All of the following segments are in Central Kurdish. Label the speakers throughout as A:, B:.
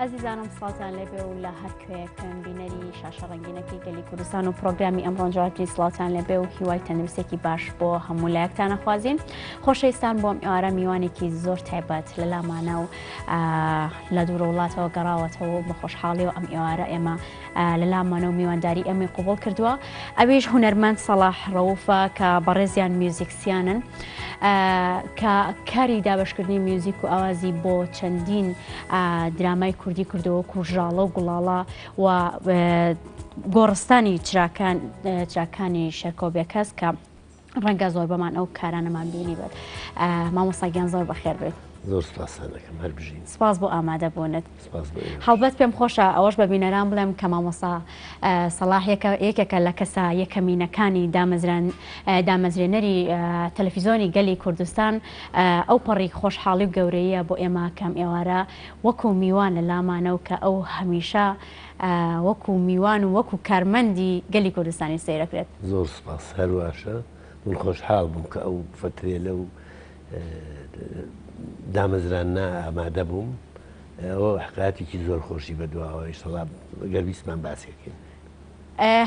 A: ئازیزانم سڵاتان لێبێ و لە هەر کوێکەم بینەری شاشە ڕنگینەکەی گەلی کوردستان و پرۆگرامی ئەم ڕۆژاتی سڵاتان لێبێ و هیوای تەندروستێکی باش بۆ هەموو لایەکتانە خوازیین خۆشەویستان بۆم ئێوارە میوانێکی زۆر تایبەت لە لامانە و لە دوورە وڵاتەوە گەڕاوەتەوە بە خۆشحاڵی و ئەم ئێوارە ئێمە لە لامانە و میوانداری ئەمەی قوبڵ کردووە ئەویش هوەرمەند سەڵاح ڕەوفە کە بەڕێزیان میوزیک سیانن کە کاری دابشکردنی میوزیک و ئاوازی بۆ چەندین درامای کوردی کردەوە کوژاڵە و گوڵاڵە و گۆڕستانی چراکان چراکانی شەرکۆبێکەس کە ڕەنگە زۆر بەمان ئەو کارانەمان بینی بێت مامۆساگیان زۆر بەخێر بێت زۆر سپاسانەکەم
B: هەر بژین سپاس بۆ ئامادە
A: بوونت. سپاس بۆ ئێوەش. هەڵبەت پێم خۆشە ئەوەش بە بینەران بڵێم کە مامۆستا سەڵاح یەکێکە لە کەسە یەکەمینەکانی دامەزرێنەری تەلەفیزۆنی گەلی کوردستان ئەو پەڕی خۆشحاڵی و گەورەیە بۆ ئێمە کەم ئێوارە وەکو میوان لە لامانە و کە ئەو هەمیشە وەکو میوان و وەکو کارمەندی گەلی کوردستانی سەیرەکرێت. زۆر سپاس
B: هەرواشە من خۆشحاڵ بووم کە ئەو فەترێلە و دامەزراندنە ئامادە بووم ئەوە حکایەتێکی زۆر خۆشی بەدواوە ئیشەڵا گەر بیستمان باسێکەین.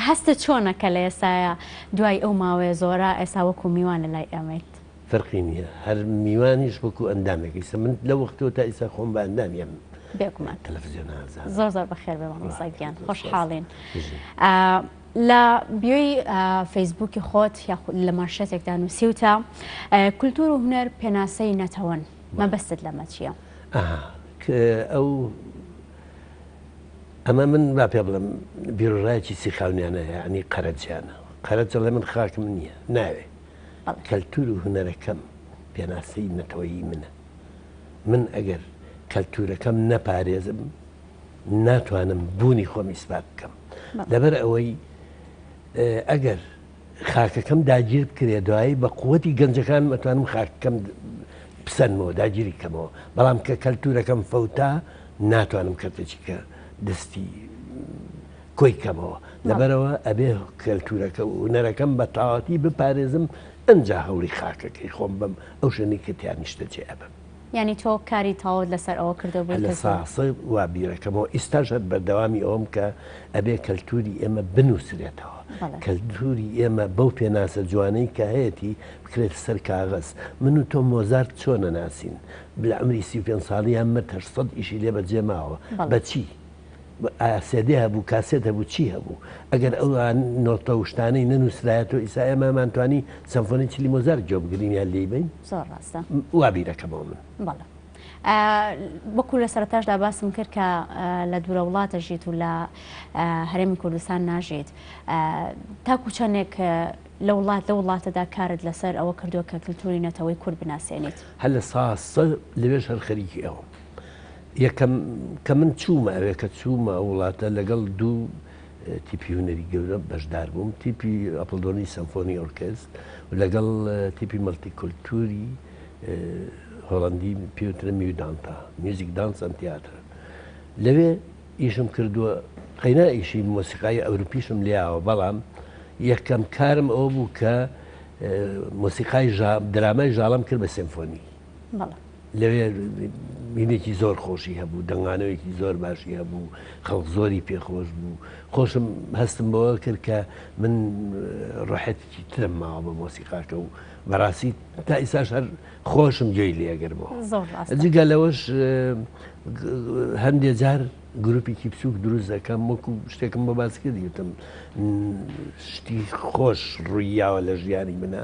A: هەستت چۆنە کە لە ئێستایا دوای ئەو ماوەیە زۆرە ئێستا وەکو میوان لە لای ئێمەیت؟ فەرقی نییە
B: هەر میوانیش وەکو ئەندامێک ئیسە من لە وەختەوە تا ئیسا خۆم بە ئەندامی ئەم بێگومان
A: تەلەفزیۆنە
B: زۆر زۆر بەخێربێ
A: مامۆستا گیان خۆشحاڵین. لە بیۆی فەیسبووکی خۆت یاخود لە مانشێتێکدا نووسیوتە کولتوور و هونەر پێناسەی نەتەوەن مەبەستت لەمە چییە؟ ئەو
B: ئەمە من با پێ بڵم بیرۆژایکی سیخاونیانە ینی قەرەجیانە قەرەجە لە من خاکم نییە ناوێ کەلتور و هوەرەکەم پێناسی نەتەوەیی منە من ئەگەر کەلتورەکەم نەپارێزم ناتوانم بوونی خۆم ئیسپات بکەم لەبەر ئەوەی ئەگەر خاکەکەم داگیر بکرێ دوایی بە قوتی گەنجەکان مەتوانم خاکەکەم پسەنمەوە داگیری کەمەوە بەڵام کە کەلتورەکەم فەوتا ناتوانم کەتەچیکە دەستی کۆی کەمەوە لەبەرەوە ئەبێ کەلتورەکە و نەرەکەم بە تاواتی بپارێزم ئەجا هەوڵی خاکەکەی خۆم بم ئەو شوێنی کە تیانیشتە جێ ئەبم یانی تۆ کاری
A: تەواوت لەسەر ئەوە کردبوو کە زوو. هەلە ساخ وا
B: بیرەکەمەوە ئیستاش هەر بەردەوامی ئەوەم کە ئەبێ کەلتوری ئێمە بنوسرێتەوە کەلتوری ئێمە بەو پێناسە جوانەی کە هەیەتی بکرێت سەر کاغەز من و تۆ مۆزارت چۆ نەناسین لە عەمری سی و پێنج ساڵیان مرد هەشت سەد ئیشی لێ بەجێ ماوە بە چی ئایا سێدێ هەبوو کاسێت هەبوو چی هەبوو ئەگەر ئەو نۆتە و شتانەی نەنووسرایەتەوە ئیسا ئێمەمان توانی سەمفۆنی چلی مۆزار گوێ بگرین یان لێی بین زۆر ڕاستە
A: وا بیرەکەمەوە
B: من بەڵێ
A: وەکو لە سەرتاشدا باسم کرد کە لە دوورە وڵاتە ژیت و لە هەرێمی کوردستان ناژیت تاکو چەندێک لە وڵات لە وڵاتەدا کارت لەسەر ئەوە کردووە کە کللتوری نەتەوەی کورد بناسیێنیت هەل لە ساسە
B: لەوێش هەر خەریکی ئەوە یەکەم کە من چوومە ئەوێ کە چوومە وڵاتە لەگەڵ دوو تیپی هونەری گەورە بەشدار بووم تیپی ئەپلدۆنی سەمفۆنی ئۆرکست و لەگەڵ تیپی مەڵتی کولتوری هۆڵندی پێوترە میودانتا میوزیک دانس ئەم تیاترە لەوێ ئیشم کردووە قەینا ئیشی مۆسیقای ئەوروپیشم لیاوە بەڵام یەکەم کارم ئەو بوو کە مۆسیقای درامای ژاڵم کرد بە سمفۆنی لەوێ بینێکی زۆر خۆشی هەبوو دەنگانەوەیەکی زۆر باشی هەبوو خەڵک زۆری پێخۆش بوو خۆشم هەستم بەوە کرد کە من ڕحەتێکی ترم ماوە بە مۆسیقاکە و بەڕاستی تا ئیساش هەر خۆشم جێی لێگەرمەوە جگە لەوەش هەندێ جار گروپێکی بچووک دروست دەکەم وەکو شتێکم بە باس کردیتم شتی خۆش ڕوویاوە لە ژیانی منە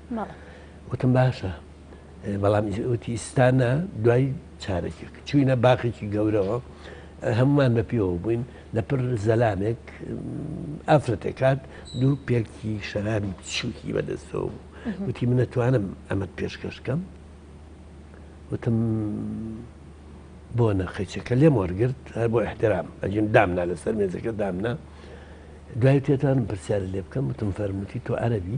B: مەڵێ. وتم باشە، بەڵام وتی ئیستا نا دوای چارەکێک. چووینە باخێکی گەورەوە هەموومان بە پێوە بووین لە پر زەلامێک ئافرەتێک هات دوو پێکی شەرابی بچووکی بە دەستەوە بوو وتی من ئەتوانم ئەمەت پێشکەش کەم؟ وتم بۆ نە قەیچەکە لێم وەرگرت هەر بۆ احترام ئەجیم دامنا لەسەر مێزەکە دامنا دوای تێتانم پرسیار لێ بکەم وتم فەرمووتی تۆ عەربی؟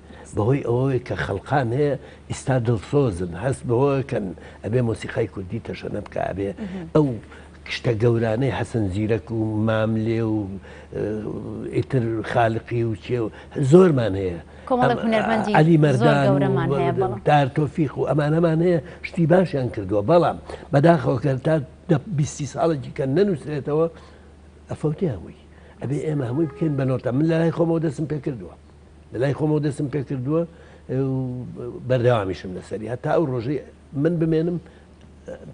B: بەهۆی ئەوەوەی کە خەڵقان هەیە ئیستا دڵسۆزن هەست بەوەکەن ئەبێ مۆسیقای کوردی تەشەنە بکە ئەبێ ئەو شتە گەورانەی حەسەن زیرەک و ماملێ و ئیتر خالقی و چێ و زۆرمان هەیە علی مەرداندار تۆفیق و ئەمانەمان هەیە شتی باشیان کردووە بەڵام بەداخەوەکە تا بیستی ساڵێکی کە نەنووسێتەوە ئەفەوتیان بووی ئەبێ ئێمە هەمووی بکەین بە نۆتە من لای خۆمەوە دەستم پێ کردووە لە لای خۆمەوە دەستم پێکردووە بەردەوامیشم لەسەری هەتا ئەو ڕۆژەی من بمێنم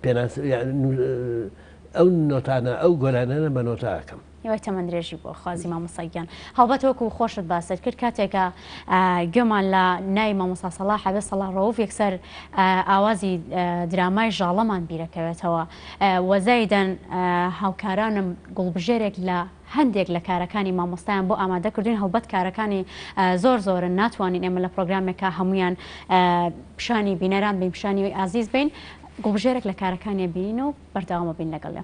B: پێناس ئەو نۆتانە ئەو گۆرانانە بە نۆتاکەم یوای تەمەند درێژی
A: بۆ خوازی مامۆساگیان هەڵبەت وەکو خۆشت باست کرد کاتێکە گوێمان لە نای مامۆسا سەڵا حەبێ سەڵا ڕەوف یەکسەر ئاوازی درامای ژاڵەمان بیرەکەوێتەوە وەزایدەن هاوکارانم گوڵبژێرێک لە هەندێک لە کارەکانی مامۆستایان بۆ ئامادە کردووین هەڵبەت کارەکانی زۆر زۆرن ناتوانین ئێمە لە پرۆگرامێکا هەموویان پیشانی بینەران بین پیشانی ئازیز بین گوڵبژێرێک لە کارەکانی بینین و بەردەوامە بین لەگەڵێ.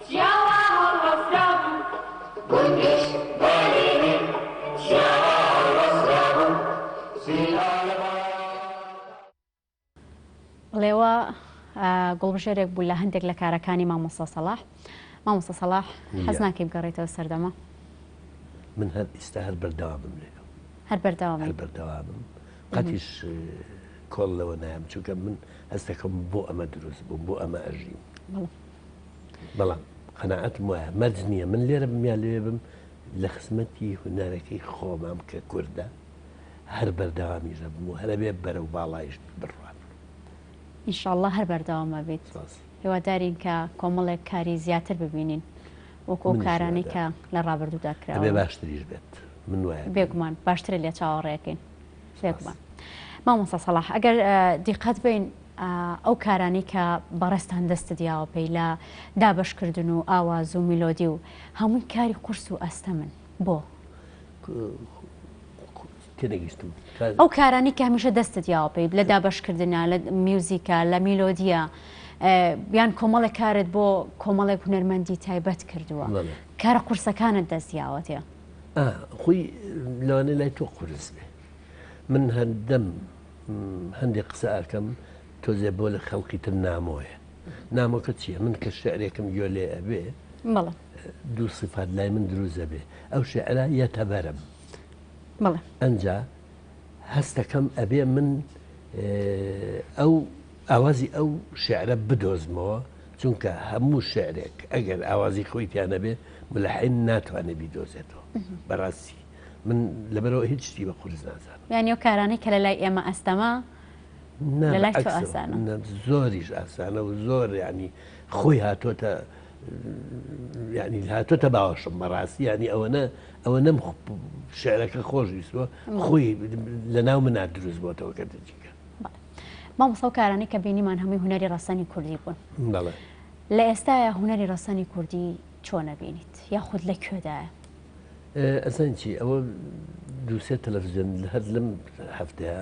A: جیاواز هەڵوەستابوو گوندیش بەرینی جیاواز هەڵوەستابوو زینا ڵێوا گوڵبژێرێک بوو لە هەندێک لە کارەکانی مامۆستا سەڵاح مامۆستا سەڵاح حەز ناکەی بگەڕێتەوە سەردەمە
B: من هەر ئیستا هەر بەردەوامم لێ هەر بەردەوام هەر
A: بەردەوامم
B: قەتیش کۆڵ لەوە نایم چونکە من هەستەکەم بۆ ئەمە دروست بووم بۆ ئەمە ئەژیم بەڵام قەناعەتم وایە مەرج نییە من لێرە بم یا لەوێ بم لە خزمەتی هونەرەکەی خۆمام کە کوردە هەر بەردەوامی دەبم و هەرەبێ بەرە و باڵایش بڕوات
A: ئینشاءاللە هەر بەردەوامە بێت سپاس. هیوادارین کە کۆمەڵێک کاری زیاتر ببینین وەکو ئەو منیش کارانەی کە هیوادارم. لە ڕابردوودا هەبێ کراوە باشتریش بێت
B: من وایە پێم. بێگومان باشترە لێ
A: چاوەڕێکەین سپاس. بێگومان مامۆستا سەڵاح ئەگەر اه، دیقەت بەین ئەو کارانەی کە بەڕێزتان دەستت یاوە پێی لە دابەش کردن و ئاواز و میلۆدی و هەمووی کاری قورس و ئەستەمن بۆ
B: تێنەگەیشتم ئەو کارانی
A: کە هەمیشە دەستت یاوە پێی لە دابەشکردە لە میوزیکە لە میلۆدیە بیان کۆمەڵێک کارت بۆ کۆمەڵێک هونەرمەندی تایبەت کردووە کارە قورسەکانت دەستیاوەتێ خۆی
B: لەوانە لای تۆ قورس بێ من هەندەم هەندێ قسە ئەکەم تۆزێ بۆ لە خەڵکی تر نامۆیە نامۆکە چییە من کە شعرێکم گوێ لێ ئەبێ مەڵە دوو سفات لای من دروزە بێ ئەو شعرە یەتە بەرم مەڵە ئەجا هەستەکەم ئەبێ من ئەو ئاوازی ئەو شعرە بدۆزمەوە چونکە هەموو شعرێک ئەگەر ئاوازی خۆی پیانەبێ ملحین ناتوانێت بیدۆزێتەوە بەڕاستی من لەبەرەوە هیچ شتی بە قورس نازانم یانی و کارانەی کە لە
A: لای ئێمە ئەستەمە زۆریش
B: ئاسانە و زۆر ینی خۆی هاتۆتە ینی هاتۆتە باوەشم بەڕاستی ینی ئەوەنە ئەوە نەم شعرەکە خۆش ویستوە خۆی لە ناو منات دروست بۆتەوە کە دەجیکە مامۆستا
A: و کارانی کە بینیمان هەمووی هوەری ڕەسەنی کوردی بوون لە ئێستاە هوەری ڕەسەنی کوردی چۆن ئەبینیت یاخود لە کوێدایە؟
B: ئەزان چی ئەوە دووسێ تەلەفزیۆن هەر لەم هەفتەیە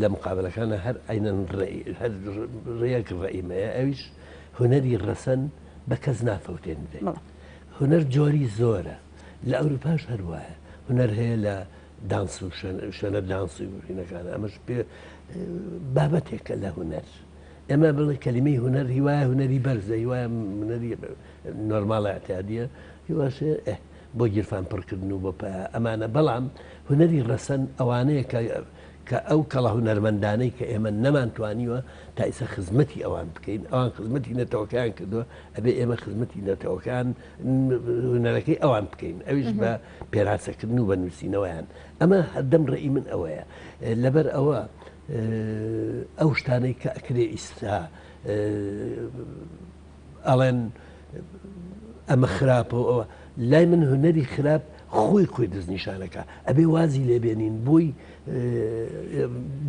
B: لە مقابلەکانە هەر ئەینەن ڕێک ڕئیمەیە ئەویش هوەری ڕەسەن بە کەس نافەوتێن بێ هوەر جۆری زۆرە لە ئەوروپاش هەروایە هوەر هەیە لە دانس و شوێنە دانسی وینەکان ئەمەش پێ بابەتێکە لە هوەر ئێمە بڵێ کەلیمەی هونەر هیوایە هونەری بەرزە هیوایە منەری نۆرمالە ئەتیادە هیواشێ بۆ گیرفان پڕکردن و بۆ پا ئەمانە بەڵام هونەری ڕەسەن ئەوانەیە کە کە ئەو کەڵە هونەرمەندانەی کە ئێمە نەمانتوانیوە تا ئیسە خزمەتی ئەوان بکەین ئەوان خزمەتی نەتەوەکان کردووە ئەبێ ئێمە خزمەتی نەتەوەکان هونەرەکەی ئەوان بکەین ئەویش بە پێراسەکردن و بە نووسینەوەیان ئەمە هەردەم ڕێی من ئەوەیە لەبەر ئەوە ئەو شتانەی کە ئەکرێ ئیستا ئەڵێن ئەمە خراپە و ئەوە لای من هونەری خراپ خۆی خۆی دەستنیشانەکە ئەبێ وازی لێبێنین بۆی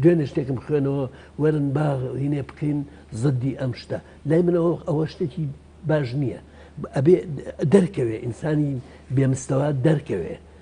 B: دوێنێ شتێکم خوێنەوە وەرن با هینێ بکەین زدی ئەم شتە لای منەوە ئەوە شتێکی باش نییە ئەبێ دەرکەوێ ئینسانی بێمستەوە دەرکەوێ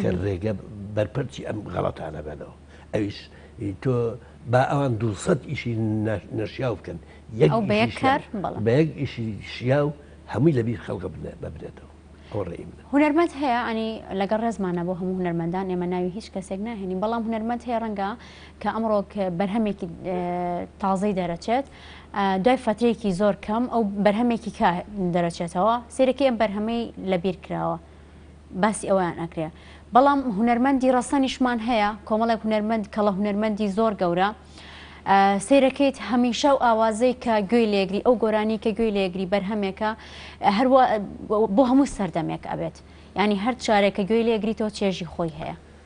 B: کە ڕێگە بەرپەرچی ئەم غەڵەتانە بنەوە ئەویش تۆ با ئەوان دوسەد ئیشی نەشیا بکەن یەک بەیەک ئیشی شیا و هەمووی لەبییر خەڵکە بنە ببرێتەوە هونەرمەند هەیە ئەنی
A: لەگەڵ ڕێزمانە بۆ هەموو هونەرمەندان ئێمە ناوی هیچ کەسێک ناهێنین بەڵام هونەرمەند هەیە ڕەنگە کە ئەمڕۆک بەرهەمێکی تازەی دەرەچێت دوای فترێکی زۆر کەم ئەو بەرهەمێکی کە دەرەچێتەوە سێرەکەی ئەم بەرهەمەی لەبیر کراوە باسی ئەوەیان ئەکرێ بەڵام هونەرمەندی ڕەسەنیشمان هەیە کۆمەڵێک هونەرمەند کەڵە هونەرمەندی زۆر گەورە سیرەکەیت هەمیشە و ئاوازەی کە گوێی لێگری ئەو گۆرانی کە گوێی لێگری بەرهەمێکە هەر بۆ هەموو سەردەمێک ئەبێت ینی هەر چارێکە گوێی لێگریتەوە چێژی خۆی هەیە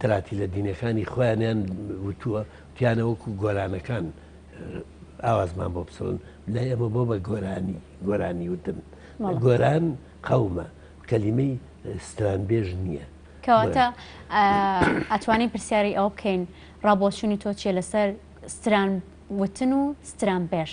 B: تراتیلە دینەکانی خۆیانیان وتووە وتیانە وەکو گۆرانەکان ئاوازمان بۆ بسڕن لە ئێمە بۆ بە گۆرانی گۆرانی وتن گۆران قەومە کەلیمەی سترانبێژ نییە کەواتە
A: ئەتوانین پرسیاری ئەو بکەین ڕابۆچوونی تۆ چیە لەسەر ستران وتن و ستران بێش.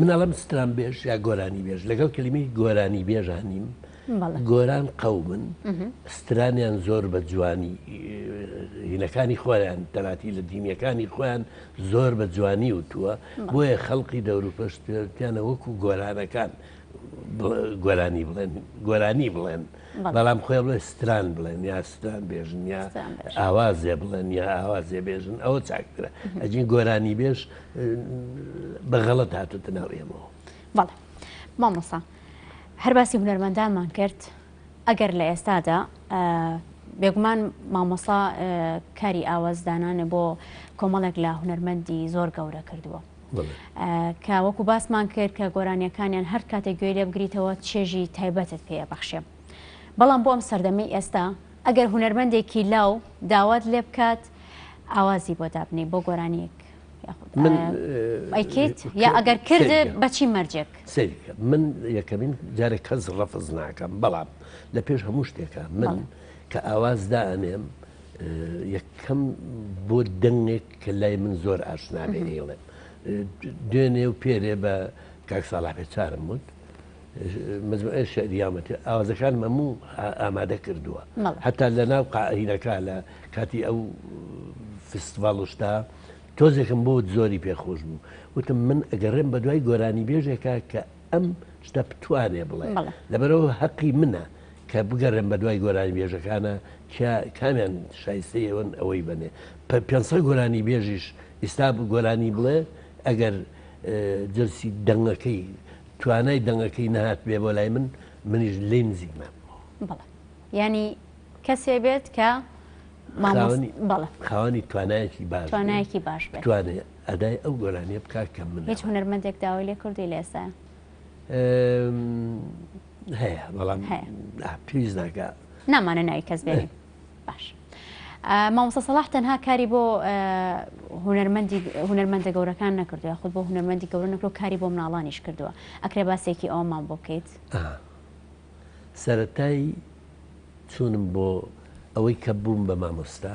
B: منەڵم ستران بێژ یا گۆرانی بێژ لەگەڵ کلیمی گۆرانی بێژانیم گۆران قەومن سترانیان زۆر بە جوانی هینەکانی خۆیان تەناتی لە دینیەکانی خۆیان زۆر بە جوانی وتووە بۆیە خەڵقی دەوروپەشتیانە وەکو گۆرانەکان گۆرانی بڵێن گۆرانی بڵێن بەڵام خۆێ بڵێ ستران بڵێن یا ستران بێژن یا ئاوازێ بڵێن یا ئاوازێ بێژن ئەوە چاکترە ئەجین گۆرانی بێژ بەغەڵت هاتوتە ناو ئێمەوە بەڵێ
A: مامۆسا هەر باسی هونەرمەندانمان کرد ئەگەر لە ئێستادا بێگومان مامۆسا کاری ئاوازدانانە بۆ کۆمەڵێک لە هونەرمەندی زۆر گەورە کردووە کە وەکو باسمان کرد کە گۆرانیەکانیان هەر کاتێک گوێ لێ بگریتەوە چێژی تایبەتت پێ بەخشێ بەڵام بۆ ئەم سەردەمەی ئێستا ئەگەر هوەرمەندێکی لاو داوات لێ بکات ئاوازی بۆ دابنی بۆ گۆرانیەک ئەیکیت یا ئەگەر کرد بەچی مەرجێک سەریکە من
B: یەکەمین جارێک کەس ڕەفز ناکەم بەڵام لە پێش هەموو شتێکە من کە ئاواز دانێم یەکەم بۆ دەنگێک کە لای من زۆر ئاشنا بێ ئێڵێم دوێنێ و پێرێ بە کاک ساڵاپێ چارم وت مجموعە شعریامەتی ئاوازەکان مەموو ئامادە کردووە هەتا لە ناو قاعینەکە لە کاتی ئەو فستڤڵشتا تۆزێکم بۆ زۆری پێخۆش بوو وتم من ئەگەڕێم بە دوای گۆرانی بێژێکە کە ئەم شتە بتوانێ بڵێ لەبەرەوە هەقی منە کە بگەڕێن بە دوای گۆرانی بێژەکانە کامیان شایستەیەوەن ئەوەی بنێ پە 500 گۆرانی بێژیش ئیستا گۆرانی بڵێ ئەگەر جلسی دەنگەکەی توانای دەنگەکەی نهات بێ بۆ لای من منیش لی نزیک نام
A: ینی کەسێ بێت کە
B: خاوەنی توانایەکی باش
A: توانێت
B: ئەدای ئەو گۆرانیە بکە کە منە. هیچ هونەرمەندێک داوای
A: لێ کردوی لە ئێستایا؟
B: هەیە بەڵام پلیس ناکە نامانە ناوی کەس
A: بێنین باش مامۆستا سەڵاح تەنها کاری بۆ هونەرمەندی هونەرمەندە گەورەکان نەکردووە خود بۆ هونەرمەندی گەورە نەکرۆ کاری بۆ مناڵانیش کردووە ئەکرێ باسێکی ئەومان بۆ بکەیت سەتای
B: چونم بۆ ئەوەی کە بووم بە مامۆستا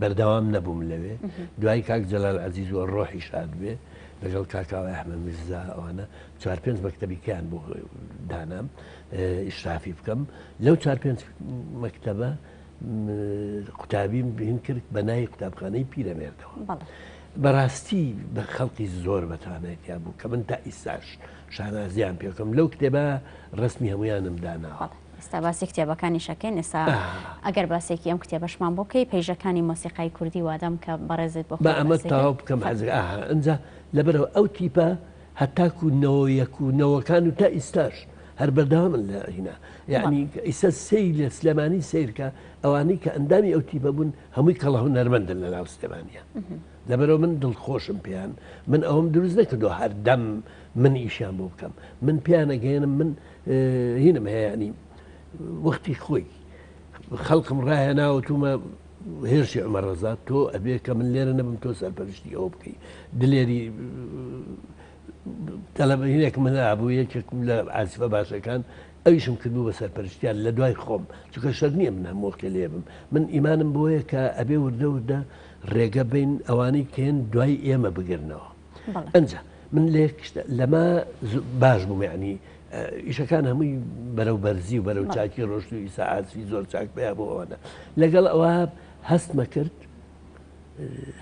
B: بەردەوام نەبووم لەوێ دوای کاک جەلال عزیز و ڕۆحی شاد بێ لەگەڵ کاکاوە ئەحمە میرزا ئەوانە چوار پێنج مەکتتەبیکەیان بۆ دانام ئیشرافی بکەم لەو چوار پێنج مەکتتەبە قوتابیم بین کرد بە ناوی قوتابخانەی پیرەمێردەوە بەڕاستی بە خەڵکی زۆر بەتانێتیا بوو کە من تا ئیساش شانازیان پێکەم لەو کتێبە ڕسمی هەمویانم داناوە ئێستا باسی
A: کتێبەکانیش ئەکەین ئێستا ئەگەر باسێکی ئەم کتێبەشمان بۆ کەی پەیژەکانی مۆسیقای کوردی وادەم کە بەڕێزت بۆ با ئەمە تاوا بکەم حەز
B: ئەجا لەبەرەوە ئەو تیپە هەتاکو نەوە یەک و نەوەکان و تا ئیستاش هەر بەردەوا من لە هینا یعنی ئیسە سەی لە سلێمانی سیرکە ئەوانەی کە ئەندامی ئەو تیپە بوون هەمووی کەڵە هونەرمەندن لە ناو سلێمانە لەبەرەوە من دڵخۆشم پێیان من ئەوم دروست نەکردو هەردەم من ئیشیان بۆ بکەم من پێیانەگەێنم من هینم هەیەنی وەختی خۆی خەڵکم ڕاهێناوە تومە هێرشی ئەمە ڕزا تۆ ئەبێ کە من لێرە نەبم تۆ سەرپەرشتی ئەوە بکەی دلێری تەلەبەینێک من ئابوو یەکێکم لە ئاسفە باشەکان ئەویشم کردو بە سەرپەرشتیان لە دوای خۆم چکە شەر نییە من هەمۆکە لێبم من ئیمانم بۆیە کە ئەبێ وردە وردە ڕێگە بین ئەوانەی کێن دوای ئێمە بگرنەوە ئەجا من لێکشتە لەمە باش بووم یعنی ئیشەکان هەمووی بەرەو بەرزی و بەرەو چاکی ڕۆشت و ئیساعاتی زۆر چاک پێیا بۆ ئەوانە لەگەڵ ئەوە هەستمە کرد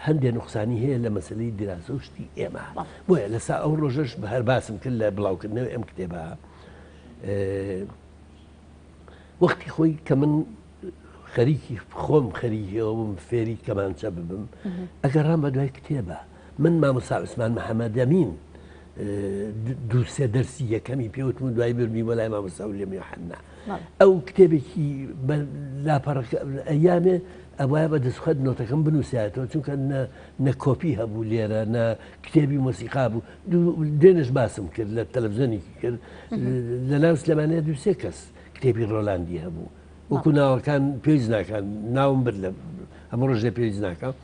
B: هەندێک نقصانی هەیە لە مەسلەی دراسە و شتی ئێمە بۆیە لەسا ئەو ڕۆژەش بە هەر باسم کرد لە بڵاوکردنەوە ئەم کتێبە وەختی خۆی کە من خەریکی خۆم خەریەوە بم فێری کەمانچە ببم ئەگەڕام بە دوای کتێبە من مامۆستا عوسمان محمدەمین دوو سێ دەرسی یەکەمی پێوتم و دوای برمی بۆ لای مامۆستا ولیەم یوحنا ئەو کتێبێکی لاپەڕەکە ئەیامێ ئەوە بە دەستخەت نۆتەکەم بنووساتەوە چونکە نە کۆپی هەبوو لێرە نە کتێبی مۆسیقا بوو دێنش باسم کرد لە تەلەڤزیۆنێکی کرد لە ناو سلێمانەیە دووسێ کەس کتێبی ڕۆلاندی هەبوو وەکو ناوەکان پێویست ناکان ناوم بر لە هەموو ڕژێ پێویست ناکەم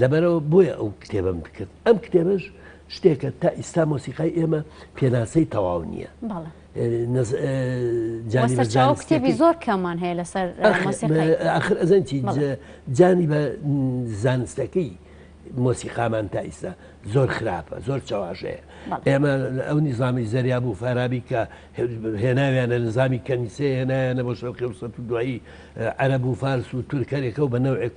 B: لەبەرئەوە بۆیە ئەو کتێبەم کرد ئەم کتێبەش شتێکە تا ئیستا مۆسیقای ئێمە پێناسەی تەواو نییە کتێبی
A: زۆر کەمان هەیە لەسەر ئاخر
B: ئەزەنی جانی بە زانستەکەی مۆسیقامان تا ئیستا زۆر خراپە زۆر چاواشەیە ئێمە ئەو نیزامی زەریا بوو فارابی کە هێناویانە نزامی کەنیسێ هێنایانە بۆ شەڵقی سە دوایی عەرە بوو فارس و تورکەرێکە و بە نەوێک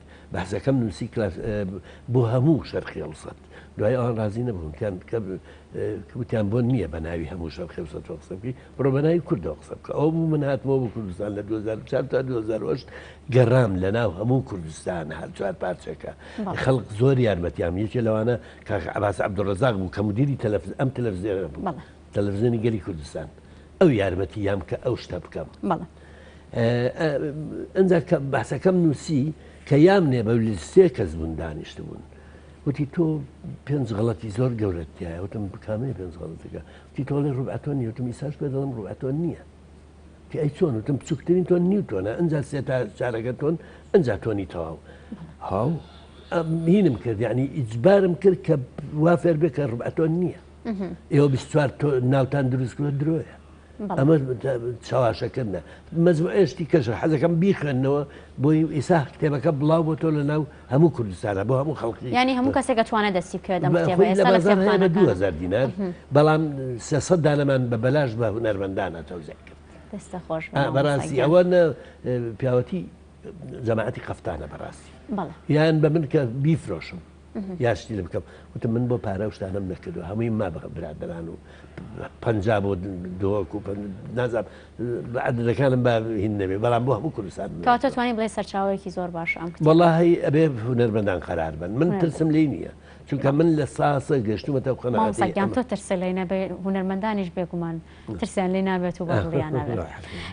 B: بەحسەکەم نوسی کلاس بۆ هەموو شەرقیەوسەت دوای ئەوان رازی نەبوون کەن کە وتیان بۆن نییە بە ناوی هەموو شەرقیەوسەت تۆ قسە بکەی بڕۆ بە ناوی کوردەوە قسە بکە ئەو بوو من هاتمەوە بۆ کوردستان لە 2004 تا 2008 گەڕام لە ناو هەموو کوردستان هەر چوار پارچەکە خەڵک زۆر یارمەتیان یەکێ لەوانە کاک عباس عبدڕزاق بوو کە مدیری تەلەفز ئەم تەلەفزیێنە بوو تەلەفزیۆنی گەلی کوردستان ئەو یارمەتی یام کە ئەو شتە بکەم ئەجا باسەکەم نووسی کە یام نێ بە سێ کەس بوون دانیشت بوون وتی تۆ پێنج غڵەتی زۆر گەورەتیایە وتم بکامەی پێنج غڵەتەکە تی تۆڵێ ڕوبعتۆن نیوتم ئیساش پێ دەڵم ڕوبعتۆن نییە تی ئەی چۆن وتم بچووکترین تۆن نیوتۆنە ئەجا سێ تا چارەکە تۆن ئەجا تۆنی تەواو هاو مینم کرد یعنی ئیجبارم کرد کە وا فێر بێ کە ڕوبعتۆن نییە ئێوە بیستوار تۆ ناوتان دروستکرە درۆیە ئەمە چاواشەکردە مەزم ئێشتی کەش حەزەکەم بیخوێندنەوە بۆی ئیسا کتێبەکە بڵاو بۆ تۆ لە ناو هەموو کوردستانە بۆ هەموو خەڵکی ینی
A: هەموو کەسێکە توانە دەستی بکرێت
B: دوهزار دینار بەڵام سەسە دانەمان بە بەلاش بە هوەرمەندانە تەوزای کرد
A: بەڕاستی ئەوە
B: پیاوەتی جەماعەتی قەفتانە بەڕاستی یان بە من کە بیفرۆشم یا شتی لە بکەم وتم من بۆ پارە و شتانم نەکردو هەمووی ما بە برادران و پ بۆ دۆک و نازاب بە عدەکانم بە هین نەبێ بەڵام بۆ هەموو کوردستان توانانی بڵێ
A: سەرچاوەیەکی
B: زۆر
A: باش
B: ئەم
A: وڵی
B: ئەبێ هوەرمەندان قەرار بن من
A: ترسم
B: لی
A: نییە
B: چونکە من لە ساسە گەشتومەتە قەنەگەیان تۆ ترسە
A: لەینە بێ هوەرمەندانیش بێگومان ترسیان لێ نابێت و بەدڵیان نابێت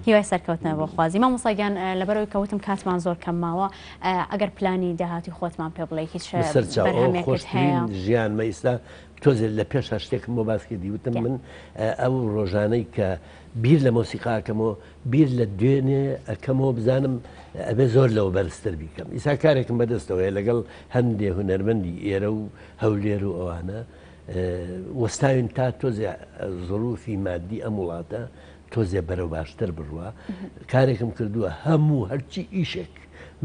A: هیوای سەرکەوتنە بۆ خوازی مامۆستا گیان لەبەرەوەی کەوتم کاتمان زۆر کەمماوە ئەگەر پلانی داهاتی خۆتمان پێ بڵێ هیچ خۆش هەیە ژیانمە ئیستا
B: تۆزێت لە پێش شتێکم بۆ باس کردی وتم من ئەو ڕۆژانەی کە بیر لە مۆسیقاکەمەوە بیر لە دوێنێ ئەەکەمەوە بزانم ئەبێ زۆر لەوە بەرزتر بیکەم ئیسا کارێکم بەدەستەوەی لەگەڵ هەندێ هوەرمەندی ئێرە و هەولێر و ئەوانە وەستاوین تا تۆزێ زڕوفی مادی ئەم وڵاتە تۆزێ بەرەو باشتر بڕوە کارێکم کردووە هەموو هەرچی ئیشێک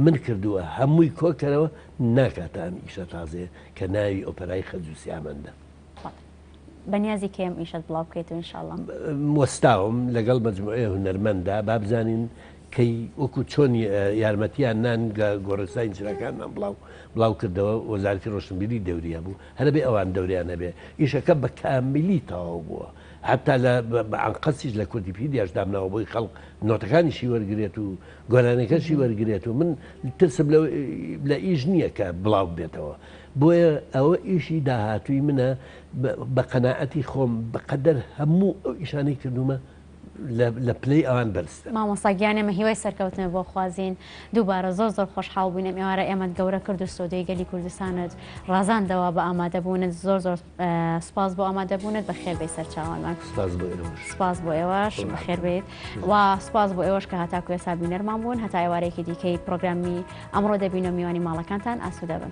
B: من کردووە هەمووی کۆکەرەوە ناکاتە ئەم ئیشە تازێ کە ناوی ئۆپەرای خەجوسیامەندە
A: بەنیازی کەم ئیشت بڵاو بکەیت و انشاءڵە وەستاوم
B: لەگەڵ مجموعێ هونەرمەندا بابزانین کەی وەکو چۆن یارمەتیان نان گۆڕستانی چراکانمان بڵاو بڵاو کردەوە وەزارتی ڕۆشنبیری دەوریا بوو هەر بێ ئەوان دەوریان هەبێ. ئیشەکە بە کاملی تەواو بووە. حەتا لە بە ئەنقەستیش لە کوردیپیدیاش دامناوە بۆی خەڵک نۆتەکانیشی وەرگرێت و گۆرانیەکەشی وەرگرێت و من ترسم لە لە ئیش نییە کە بڵاو بێتەوە. بۆیە ئەوە ئیشی داهاتووی منە بە قەناعەتی خۆم بە قەدەر هەموو ئەو ئیشانەی کردوومە، لە پلەی ئەوان بەرزتر. مامۆستا گیان ئێمە هیوای
A: سەرکەوتنت بۆ خوازین دووبارە زۆر زۆر خۆشحاڵ بووین ئەم ئێوارە ئێمەت گەورە کرد و سۆدەی گەلی کوردستانت ڕازاندەوە بە ئامادەبوونت زۆر زۆر سپاس بۆ ئامادەبوونت بەخێر بێی سەرچاوانمان سپاس بۆ ئێوەش سپاس بۆ ئێوەش خۆ بەخێر ڕاحەت بێت بن. و سپاس بۆ ئێوەش کە هاتاکو ئێستا بینەرمان بوون هەتا ئێوارەیەکی دیکەی پرۆگرامی ئەمڕۆ دەبینە میوانی ماڵەکانتان ئاسوودە بن.